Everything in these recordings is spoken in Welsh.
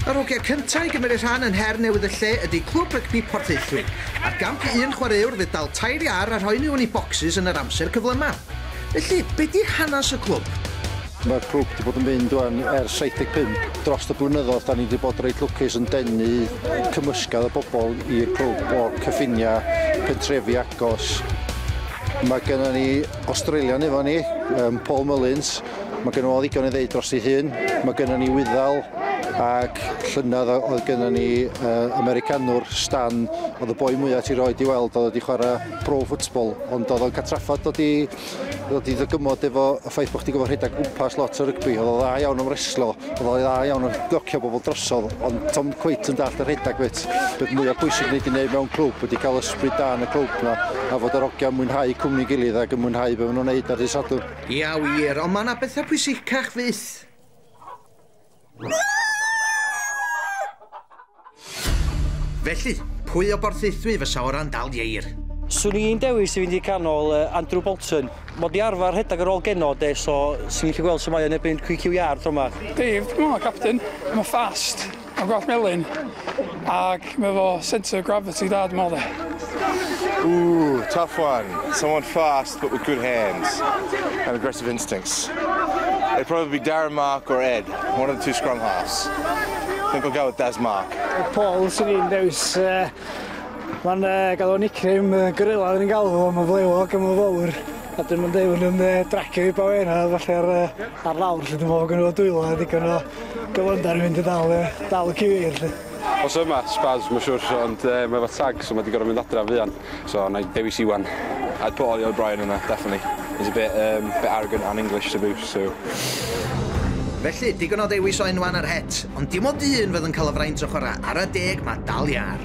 Yr hogia cynta' i gymmeryd rhan yn her newydd y lle ydi Clwb Rygbi Porthaethwy. Ar gamp un chwareuwr fydd dal tair iâr a rhoi miwn i bocsys yn yr amser cyflyma'. Felly, be' 'di hanas y clwb? Ma'r clwb 'di bod yn mynd ŵan ers 75. Drost y blynyddodd 'da ni 'di bod reit lwcus yn denu cymysgedd o bobol i'r clwb o cyffinia' pentrefi agos. Ma' gennon ni Australian efo ni, yym Paul Mullins. Mae gen o ddigon i ddeud dros ei hun. Mae gen ni wyddal ac llynedd oedd gen ni uh, Americanwr, Stan, oedd y boi mwyaf ti roed i weld, oedd wedi chwarae pro football, ond oedd o'n catraffod dod i, dod i ddygymod efo y ffaith bod chdi gofod rhedeg gwmpas lot o rygbi, oedd o dda iawn o'n reslo, oedd o dda iawn o'n docio bobl drosodd, ond tom cweit yn dall y rhedeg beth, beth mwyaf pwysig wneud i wneud mewn clwb, wedi cael ysbryd da yn y clwb na, a fod yr ogiau mwynhau cwmni gilydd ac yn mwynhau beth maen nhw'n wneud ar y sadwrn. Ia wir, ond mae yna bethau pwysicach fyth. Felly, pwy o Borthaethwy fysa o ran dal ieir? Swn i'n dewis i fynd i canol uh, Andrew Bolton. Mod i arfer rhedeg ar ôl geno de, so swn i'n gallu gweld sut mae o'n erbyn QQR tro yma. Dave, dwi'n meddwl, captain. Mae'n fast. Mae'n gwell melyn ac mae fo centre of gravity da dwi'n meddwl de. Ooh, tough one. Someone fast but with good hands and aggressive instincts. It'd probably be Darren Mark or Ed, one of the two scrum halves. I think I'll go with Daz Mark. Paul sy'n i'n dewis, uh, mae'n uh, gael o nickname uh, gorilla yn galw fo, mae'n flewog a mae'n fawr. A dyn mae'n deud yn uh, dracio i bawera falle ar, uh, ar lawr lle dwi'n meddwl gynnu o dwylo a ddigon o Dyfnder yn mynd i ddal yy dal y ceir 'lly. Os yma, Spurs ma' siwr ond yy mae efo tag so ma' 'di gor'o' mynd adra fuan so nai dewis Iwan. I'd put Ollie O'Brien in there definitely. He's a bit um bit arrogant and English to boot so. Felly, digon o ddewis o enwa yn yr het, ond dim ond un fydd yn cael y fraint o chwara' ara deg ma' dal iâr.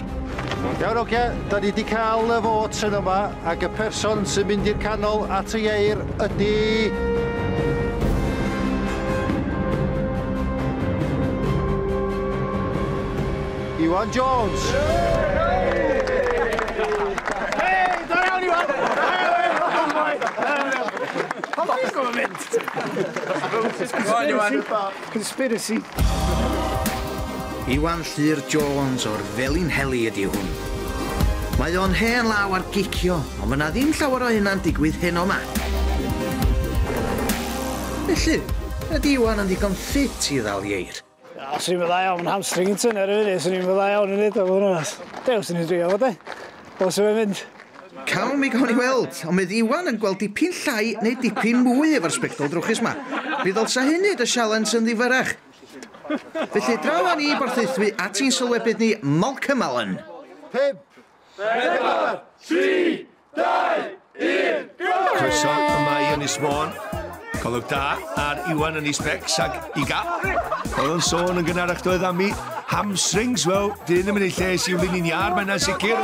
Iawn, oce, da ni wedi cael y fot yn yma, ac y person sy'n mynd i'r canol at y ieir ydy... Iwan Jones! Hei, da iawn Iwan! Conspiracy! Iwan Llyr Jones o'r Felinheli ydi hwn. Mae o'n hen law ar gicio, ond fy na ddim llawer o hynna'n digwydd heno ma. Felly, ydi Iwan yn ddigon ffit i ddal ieir? Na, swn i'm yn dda iawn, fy hamstring yn tynnu ar y funud, swn i'm yn dda iawn i neud o, fod yn onast. Dew, swn i'n dreifio fo, de? Os yw e'n mynd! Cawn mi, gawn ni weld. Ond fydd Iwan yn gweld dipyn llai neu dipyn mwy efo'r sbectol drwchus 'ma. Mi ddylsa hyn neud y sialens yn ddifyrrach. Felly, draw â ni i borthaethu at ein sylwebydd ni, Malcolm Allen. Pump, pedwar, tri, dau, 1, go! Croeso yma i Ynys Môn. Colwg da ar Iwan yn Isbecs ac Iga. Oedd yn sôn yn gynharach doedd am i hamstrings, wel, dyn yn mynd i lles i wlyn i'n iar, mae'n sicr.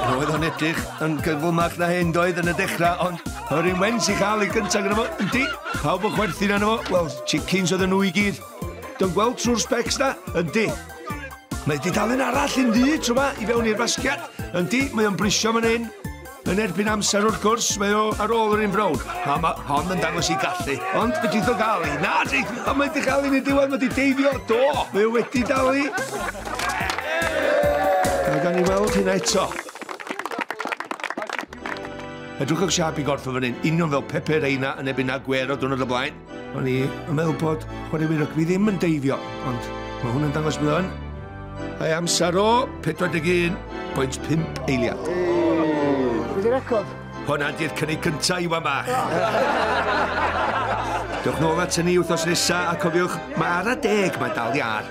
Roedd o'n edrych yn gyflymach na hyn doedd yn y dechrau, ond yr un wens i chael ei gyntaf gyda fo, yndi, pawb yn chwerthin arno fo, wel, chickens oedd nhw i gyd. Dwi'n gweld trwy'r specs na, yndi. Mae dudalen arall yn ddu tro ma i fewn i'r fasgiad. Yndi, mae o'n brisio fan hyn. Yn erbyn amser wrth gwrs, mae o ar ôl yr un brown. A mae hon yn dangos i gallu. Ond fe dritho gael i. Na, di, a mae di gael i'n y diwedd, mae di deifio. Do, mae o wedi dal i. Mae gan i weld hynna eto. Edrychwch siap i gorff o fan hyn, union fel Pepe Reina yn ebyn a Gwero dwrnod y blaen. O'n i yn meddwl bod chwaraewyr rygbi ddim yn deifio, ond mae hwn yn dangos bod o'n. Mae amser o 41.5 eiliad. Wedi record. Hwna di'r cynnig cyntaf i wan bach. Dewch nôl at hynny wythnos nesa a cofiwch, mae ar a deg, mae dal iar.